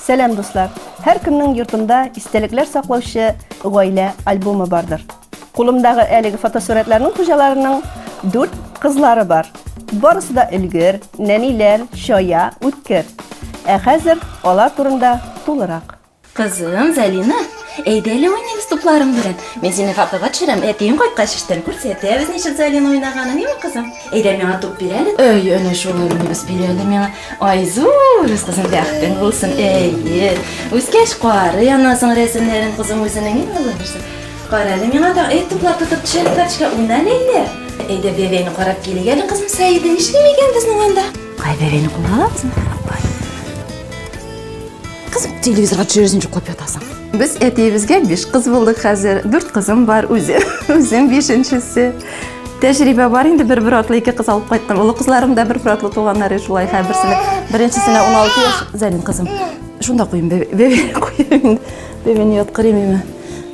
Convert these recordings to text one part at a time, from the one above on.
Сәлам дуслар! Һәркемнең йортында истәлекләр саклаучы гаилә альбомы бардыр. Кулымдагы әлеге фотосурәтләрнең хуҗаларының дүрт кызлары бар. Барысы да өлгер, нәниләр, чая, үткер. Ә хәзер алар турында тулырак. Кызым Зәлина Әйдә әле уйныйбыз тупларың белән. Мин сине фотога төшерәм, әтиең кайткач эштән күрсәтәбез ничек Залина уйнаганын, юкмы кызым? Әйдә миңа туп бир әле. Әй, әнә шулай уйныйбыз, бир әле миңа. Айзур, үз кызың бәхетең булсын. Әйе. Үскәч карый анасың рәсемнәрен кызым үзенең иң олы нәрсә. Кара әле миңа да, әй, туплар тотып төшә әле карточка, уйна әле әйдә. Әйдә бәбәйне карап килик әле кызым Сәиде, нишлим икән безнең анда? Кай бәбәйне кулга алабыз? Кызым, телевизорга төшерәсең җоклап ятасың. Без әтиебезгә биш кыз булдык хәзер. Дүрт кызым бар, үзе, үзем бишенчесе. Тәҗрибә бар инде бер бер атлы ике кыз алып кайттым. Олы кызларым да бер бер атлы туганнар иде шулай. Һәр берсенә беренчесенә 16 яшь, Зәлин кызым. Шунда куйым, бәбе куйым. Бәбене яткырыйм имә.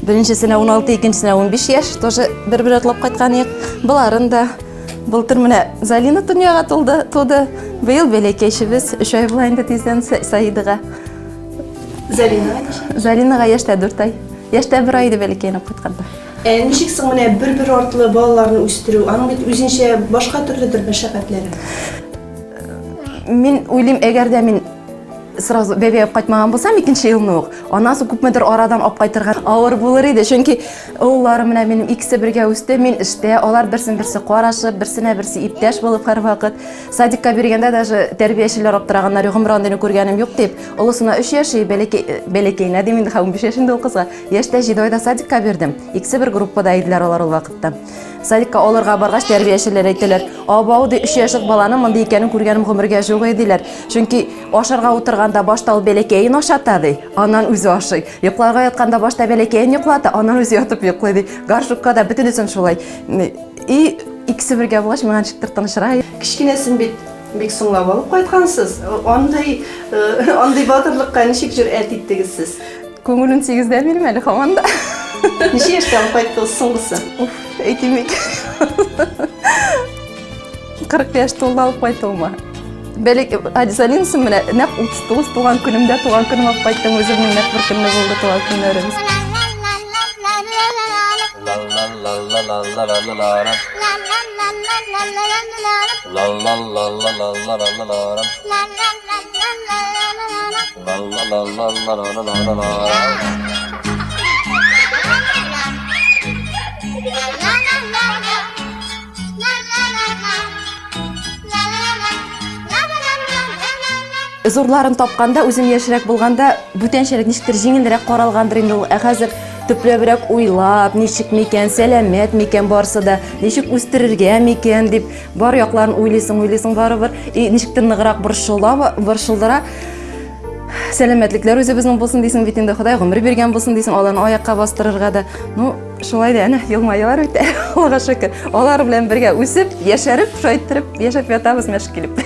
Беренчесенә 16, икенчесенә 15 яшь, тоже бер бер атлап кайткан ек. Буларын да Былтыр менә Залина дөньяга тулды, туды. Быел бәләкәйчебез өч ай була инде тиздән Саидага. Залинаға ничек? Залинаға яшьтә 4 ай. Яшьтә 1 ай иде бәләкәйне кайтканда. Ә ничек соң менә бер-бер артлы балаларны үстерү? Аның бит үзенчә башка төрледер мәшәкатьләре. Мин уйлыйм, әгәр дә мин сразу бәбәй алып кайтмаган булсам, икенче елны ук, аннан күпмедер арадан алып кайтырга авыр булыр иде. Чөнки Улларым менә минем икесе бергә үсте, мин эштә, алар берсен берсе карашып, берсенә берсе иптәш булып һәрвакыт. Садикка биргәндә даже тәрбиячеләр аптыраганнар, гомер андыйны күргәнем юк дип. Олысына 3 яши, бәләкәй э, бәләкәенә дим инде, 15 яшь инде ул кызга. Яшьтә 7 айда садикка бирдем. Икесе бер группада иделәр алар ул вакытта. Садикка алырга баргач, тәрбиячеләр әйтәләр, "Абау ди 3 яшьлек баланың мондый икәнен күргәнем гомергә юк", диләр. Чөнки ашарга утырганда башта ул бәләкәен ашата ди, аннан үзе ашый. Йокларга ятканда башта бәләкәен йоклата, аннан үзе ятып йоклый ди. Горшокка да бөтенесен шулай. И икесе бергә булгач, миңа ничектер тынычрак. Кечкенәсен бит бик соңлап алып кайткансыз. Андый андый батырлыкка ничек җөрьәт иттегез сез? Күңелен тигездә бирмә әле һаман да. Ничә яшьтә алып кайттыгыз соңгысын? Уф, әйтмик. 40 яшь тулды алып кайтуыма. Бәлек Адисалинсым менә нәкъ 39 туган көнемдә туган көнем алып кайттым үземнең нәкъ бер көнне булды туган көннәрем. Зурларын тапканда, үзем яшьрәк булганда, бүтәнчәрәк ничектер җиңелрәк каралгандыр инде ул. Ә хәзер төпләбрәк уйлап, ничек микән, сәламәт микән барысы да, ничек үстерергә микән дип, бар якларын уйлыйсың, уйлыйсың барыбер. И ничектер ныграк борчыла, борчылдыра. Сәламәтлекләр үзебезнең булсын дисең бит инде, Ходай гомер биргән булсын дисең, аларны аякка бастырырга да. Ну, Шулай да әнә елмаялар үтә, Аллага шөкер. Алар белән бергә үсеп, яшәреп, шайтырып, яшәп ятабыз мәш килеп.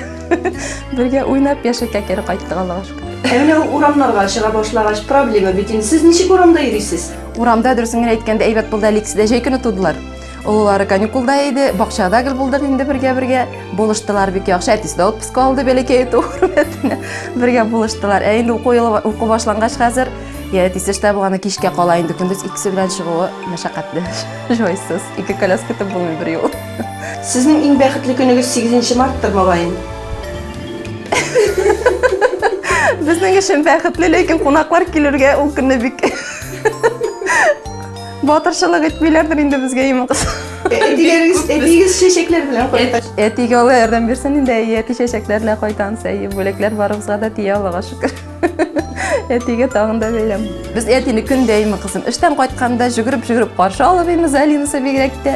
Бергә уйнап, яшәккә кире кайттык, Аллага шөкер. Ә менә урамнарга чыга башлагач проблема бит инде. Сез ничек урамда йөрисез? Урамда дөресен генә әйткәндә әйбәт булды әле икесе дә җәй көне тудылар. Олылары каникулда иде, бакчада гел булдык инде бергә-бергә. Булыштылар бик яхшы. Әтисе дә отпуска алды бәләкәй итү хөрмәтенә. Бергә булыштылар. Ә инде уку елы уку башлангач хәзер Я, әтисе эштә булганда кичкә кала инде, көндез икесе белән чыгуы мәшәкатьле, җайсыз. Ике коляска көтеп булмый бер юл. Сезнең иң бәхетле көнегез 8 марттыр, мөгаен. Безнең өчен бәхетле, ләкин кунаклар килергә ул көнне бик батырчылык итмиләрдер инде безгә имин кыз. Әтиләрегез, әтигез чәчәкләр белән кайта. Әтигә Алла ярдәм бирсен инде, әйе, әти чәчәкләр белән кайтамыз, әйе, бүләкләр барыбызга да тия, Аллага шөкер. Әтигә тагын да бәйләм. Без әтине көн дәйме кызым. Эштән кайтканда жүгереп жүгереп каршы алып имез Алинасы бигрәк тә.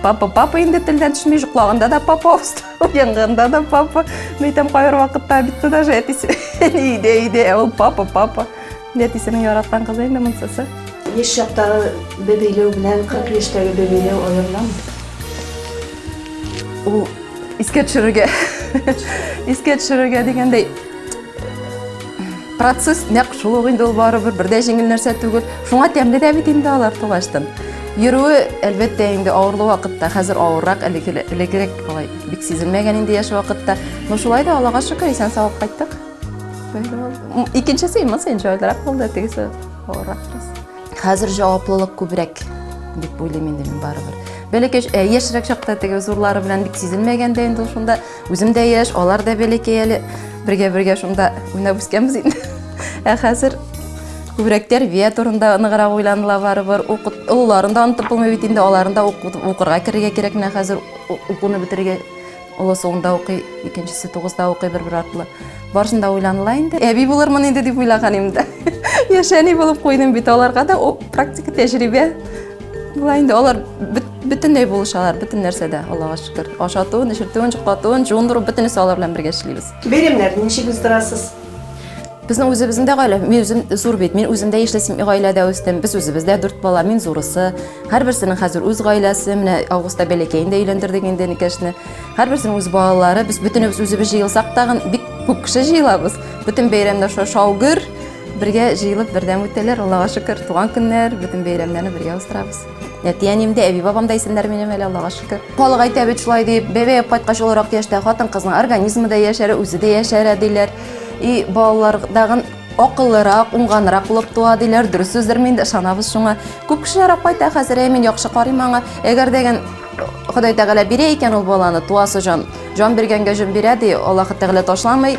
Папа, папа инде телдән төшмей, жоклағанда да папа, уянғанда да папа. Мәйтәм кайбер вакытта бит даже әтисе өйдә өйдә, ә ул папа, папа. Әтисенең яраткан кызы инде монсысы. Еш чактагы бебейләү белән 40 яшьтәге бебейләү аерылам. Ул искә төшерергә, искә төшерергә дигәндәй процесс нәкъ шул ук инде ул барыбер бер дә җиңел нәрсә түгел шуңа тәмле дә бит инде алар тугаштан йөрүе әлбәттә инде авырлы вакытта хәзер авыррак элеккерәк алай бик сизелмәгән инде яшь вакытта но шулай да аллага шөкер исән сау кайттык икенчесе имас инде җайлырак булды тегесе авыррак бераз хәзер җаваплылык күбрәк дип уйлыйм инде мин барыбер бәләкәй яшьрәк чакта теге зурлары белән бик сизелмәгән дә инде ул шунда Үзем дә яшь, алар да бәләкәй әле. Бергә-бергә шунда уйнап үскәнбез инде. Ә хәзер күбрәк тәрбия турында ныграк уйланыла барыбер. Олыларын да онытып булмый бит инде, аларын да укырга керергә кирәк менә хәзер укуны бетерергә. Олысы унда укый, икенчесе тугызда укый бер-бер артлы. Барысын да уйланыла инде. Әби булырмын инде дип уйлаган инде. Яшәни булып куйдым бит аларга да практика тәҗрибә. Була инде алар бөтенләй булышалар, бөтен нәрсәдә, Аллага шөкер. Ашатуын, эчертүен, чуклатуын, жуындыру бөтенесе алар белән бергә эшлибез. Бәйрәмнәр ничек уздырасыз? Безнең үзебезнең дә гаилә, мин үзем зур бит, мин үземдә ишле гаиләдә үстем, без үзебездә дүрт бала, мин зурысы. Һәрберсенең хәзер үз гаиләсе, менә августта бәләкәен дә өйләндердек инде Никәшне. Һәрберсенең үз балалары, без бөтенебез үзебез җыелсак тагын бик күп кеше җыелабыз. Бөтен бәйрәмнәр шау-гөр, Бергә җыелып бердәм үтәләр, Аллага шөкер, туган көннәр, бөтен бәйрәмнәрне бергә уздырабыз. Әти-әнием дә, әби-бабам да исәннәр минем әле, Аллага шөкер. Халык әйтә бит шулай дип, бәбәеп кайткач олырак яшьтә хатын-кызның организмы да яшәрә, үзе дә яшәрә диләр. И балалар тагын акыллырак, уңганрак булып туа диләр. Дөрес сүздер мин дә ышанабыз шуңа. Күп кеше сорап кайта хәзер, әй мин яхшы карыйм аңа. Әгәр дә ген Ходай Тәгалә бирә икән ул баланы, туасы җан, җан биргәнгә җон бирә ди, Аллаһы Тәгалә ташламый.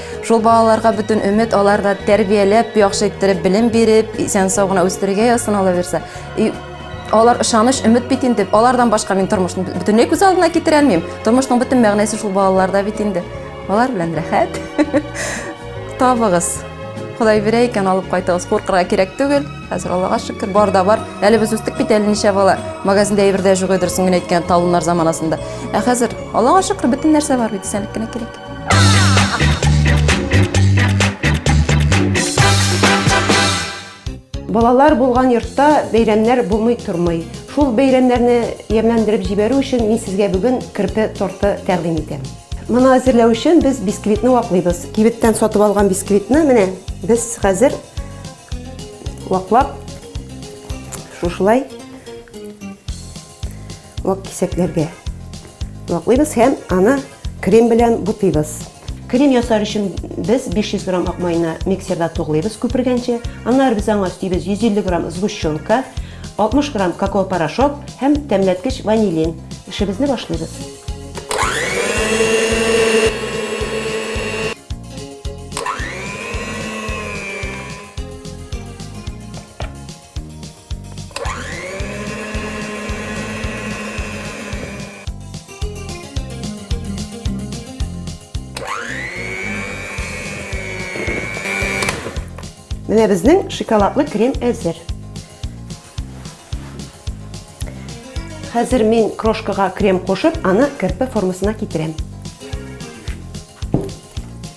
Шул балаларга бүтін үмет, аларда тәрбияләп, яхшы иттереп белем биреп, исән сау гына үстерергә язсын ала бирсә. И алар ышаныч, өмет бит инде. Алардан башка мин тормышны бөтенләй күз алдына китерә алмыйм. Тормышның бөтен мәгънәсе шул балаларда бит инде. Алар белән рәхәт. Табыгыз. Ходай бирә икән, алып кайтыгыз. Куркырга кирәк түгел. Хәзер Аллага шөкер, бар да бар. Әле без үстек бит әле ничә бала. Магазинда әйбер дә юк, дөресен генә әйткәндә, талоннар заманасында. Ә хәзер Аллага шөкер, бөтен нәрсә бар бит, исәнлек кенә кирәк. Балалар булган йортта бәйрәмнәр булмый тормый. Шул бәйрәмнәрне ямьләндереп җибәрү өчен мин сезгә бүген керпе торты тәкъдим итәм. Моны әзерләү өчен без бисквитны ваклыйбыз. Кибеттән сатып алган бисквитны менә без хәзер ваклап шушылай Вак кисәкләргә ваклыйбыз һәм аны крем белән бутыйбыз. Крем ясар өчен без 500 грамм ак майны миксерда туглыйбыз күпергәнче. Аннары без аңа өстибез 150 грамм сгущенка, 60 грамм какао порошок һәм тәмләткеч ванилин. Эшебезне башлыйбыз. Менә безнең шоколадлы крем әзер. Хәзер мин крошкага крем кушып, аны керпе формасына китерәм.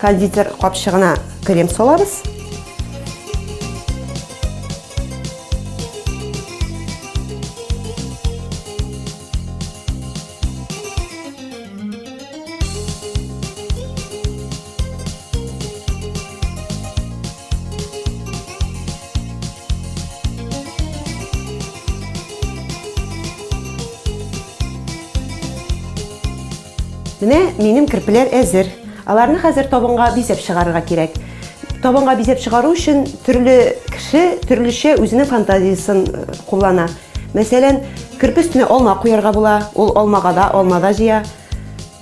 Кондитер капчыгына крем салабыз. Менә минем керпеләр әзер. Аларны хәзер табынга бизәп чыгарырга кирәк. Табынга бизәп чыгару өчен төрле кеше төрлечә үзенең фантазиясен э, куллана. Мәсәлән, керпе өстенә алма куярга була, ул алмага да, алма да җыя.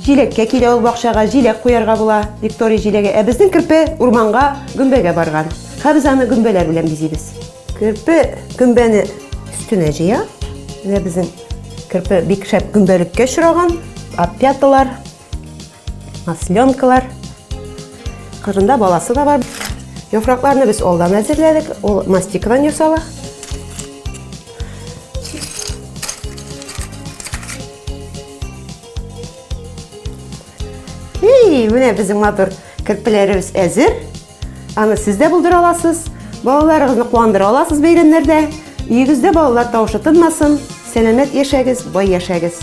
Җиләккә килә ул бакчага, җиләк куярга була, Виктория җиләге. Ә безнең керпе урманга гөмбәгә барган. Һәм без аны гөмбәләр белән бизибез. Керпе гөмбәне өстенә җыя. Менә безнең керпе бик шәп гөмбәлеккә очраган. Опяталар, масленкалар. Кырында баласы да бар. Яфракларны без алдан әзерләдек. Ул мастикадан ясала. Эй, менә безнең матур керпеләребез әзер. Аны сез дә булдыра аласыз. Балаларыгызны куандыра аласыз бәйрәмнәрдә. Өегездә балалар тавышы тынмасын. Сәламәт яшәгез, бай яшәгез.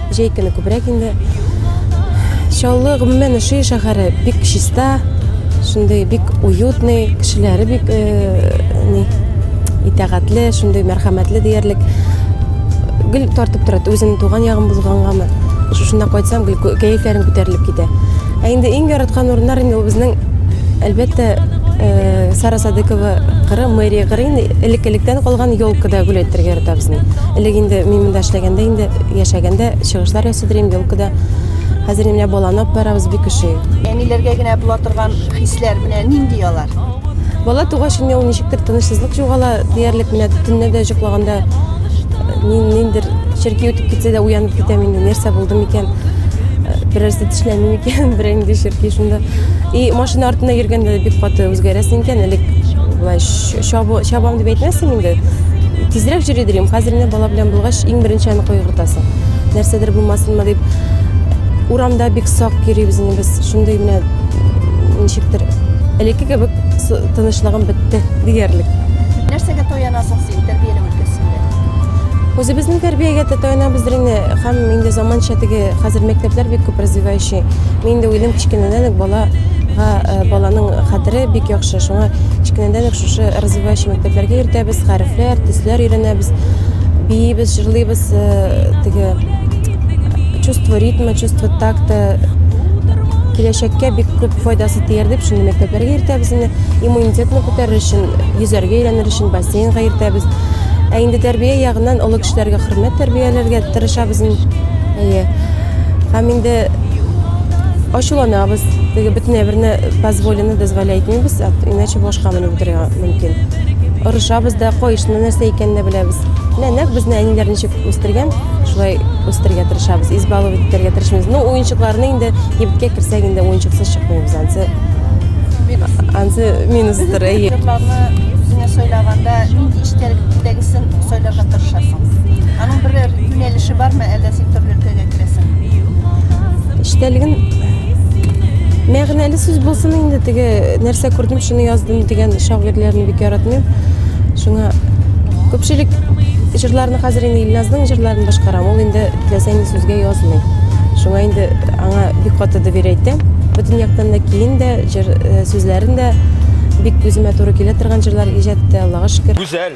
Җәй көне күбрәк инде. Чаллы, гомумән, Шөй шәһәре бик чиста, шундый бик уютный, кешеләре бик ни итәгатьле, шундый мәрхәмәтле диярлек. Гел тартып тора, үземнең туган ягым булгангамы. Шушында кайтсам, гел кәефләрем күтәрелеп китә. Ә инде иң яраткан урыннар инде ул безнең, әлбәттә, Сара Садыкова кыры, мэрия кыры инде, элек-электән калган елкада гөл әйтергә яратабыз инде. Элек инде мин монда эшләгәндә инде Яшәгәндә чыгышлар ясыдырым елкада. Хәзер менә баланы алып барабыз бик ошый. Әниләргә генә була торган хисләр менә нинди алар? Бала тугач инде ул ничектер тынычлык югала диярлек менә төнне дә җоклаганда ниндер черки үтеп китсә дә уянып китәм инде нәрсә булды микән берәрсе тешләми микән берәр нинди черки шунда и машина артында йөргәндә бик каты үзгәрәсең икән элек болай Чабу, чабам дип әйтмәсем инде. Тизрәк җөри дилем. Хәзер генә бала белән булгач, иң беренче аны кайгыртасың. Нәрсәдер булмасынмы дип, урамда бик сак йөрибез инде без. Шундый менә ничектер элекке кебек тынычлыгым бетте диярлек. Нәрсәгә таянасың син тәрбияләү өлкәсендә? Үзебезнең тәрбиягә таянабыз инде һәм инде заманча теге хәзер мәктәпләр бик күп развивающий Чөнки мин инде уйлыйм, кечкенәдән үк балага, э, баланың хәтере бик яхшы. Шуңа кечкенәдән үк шушы развивающий мәктәпләргә йөртәбез, хәрефләр, төсләр өйрәнәбез, биибез, җырлыйбыз, э, теге чувство ритма, чувство такта киләчәккә бик күп файдасы тияр дип шундый мәктәпләргә йөртәбез инде. Иммунитетны күтәрер өчен, йөзәргә өйрәнер өчен бассейнга йөртәбез. Ә инде тәрбия ягыннан олы кешеләргә хөрмәт тәрбияләргә тырышабыз инде. Әйе. Һәм инде ачуланабыз, теге бөтен әйберне позволено дозволяй итмибез, иначе башка менеп утырырга мөмкин. Орышабыз да, кайышны нәрсә икәнен дә беләбез. Менә нәкъ безне әниләр ничек үстергән, шулай үстергә тырышабыз, избаловать итәргә тырышмыйбыз. Ну, уенчыкларны инде кибеткә керсәк, инде уенчыксыз чыкмыйбыз, ансы ансы минустыр, әйе. Җырларны үзеңә сайлаганда нинди эчтәлектәгесен сайларга тырышасың? Аның берәр Юнәлеше бармы, әллә син төрле өлкәгә керәсең? Эчтәлеген мәгънәле сүз булсын инде теге нәрсә күрдем шуны яздым дигән шагыйрьләрне бик яратмыйм. Шуңа күпчелек җырларны хәзер инде Илназның җырларын башкарам. Ул инде теләсә нинди сүзгә язмый. Шуңа инде аңа бик каты да бирәйтәм. Бөтен яктан да киен дә, җыр э, сүзләрен дә бик үземә туры килә торган җырлар иҗат итә, Аллага шөкер. Гүзәл,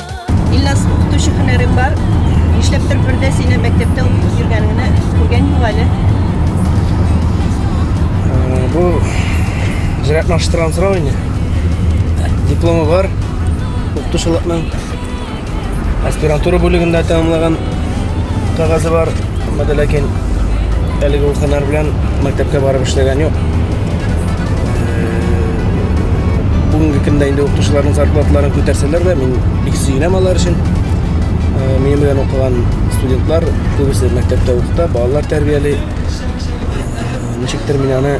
Ильназ, укытучы һөнәрең бар. Нишләптер бер дә сине мәктәптә укып йөргәнеңне күргән юк әле. Э, бу җыраклаштырган сорау инде. Дипломы бар. Укытучылыкның аспирантура бүлегендә тәмамлаган. кәгазе бар, әмма дә ләкин әлеге ул һөнәр белән мәктәпкә барып эшләгән юк. Бүгенге көндә инде укытучыларның зарплатларын күтәрсәләр дә, мин бик сөенәм алар өчен. Минем белән укыган студентлар күбесе мәктәптә укыта, балалар тәрбияли. Ничектер мин аны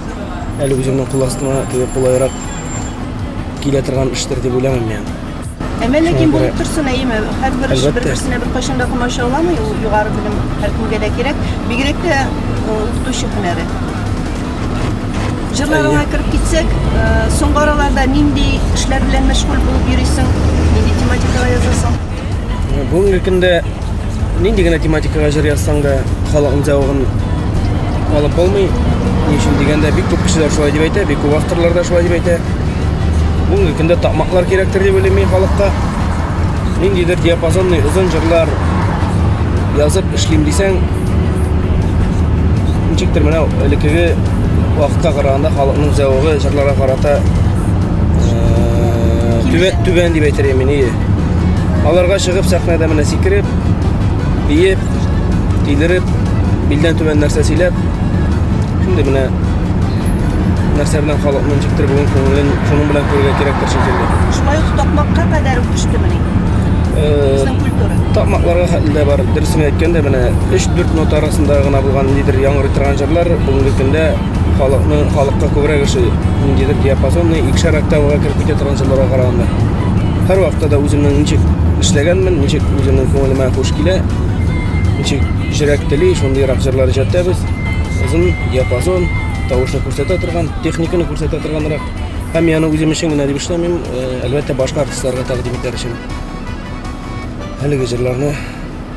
әле үземнең кул астыма кулайрак килә торган эштер дип уйланам мин. Әмә ләкин булып торсын, әйеме, һәрбер эш бер-берсенә беркайчан да комачауламый, ул югары белем һәркемгә дә кирәк, бигрәк тә укытучы һөнәре. Җырларыңа кереп китсәк, соңгы араларда нинди эшләр белән мәшгуль булып йөрисең, нинди тематикага язасың? Бүгенге көндә Нинди генә тематикага җыр язсаң да, халыкның зәвыгын алып булмый. Ни өчен дигәндә, бик күп кешеләр шулай дип әйтә, бик күп авторлар да шулай дип әйтә. Бүгенге көндә такмаклар кирәктер дип уйлыйм мин халыкка. Ниндидер диапазонный озын җырлар язып эшлим дисәң, ничектер менә элеккеге вакытка караганда халыкның зәвыгы җырларга карата түбән, түбән дип әйтер идем мин, Аларга чыгып сәхнәдә менә сикереп, биеп, тилереп, билдән түбән нәрсә сөйләп, шундый менә нәрсә белән халыкны ничектер бүген күңелен шуның белән күрергә кирәктер шикелле. Шулай ук такмакка кадәр үк төштемени? Безнең культура. Такмакларга хәтле дә бар. Дөресен әйткәндә, менә 3-4 минут арасында гына булган нидер яңгырый торган җырлар бүгенге көндә халыкны халыкка күбрәк эше ниндидер диапазонный икшәр октавага кереп китә торган җырларга караганда һәр вакытта да үземнең ничек эшләгәнмен ничек үземнең күңелемә хуш килә ничек йөрәк тели шундыйрак җырлар иҗаттабыз озын диапазон тавышны күрсәтә торган техниканы күрсәтә торганрак һәм яны үзем өчен генә дип эшләмим әлбәттә башка артистларга тәкъдим итәр өчен әлеге җырларны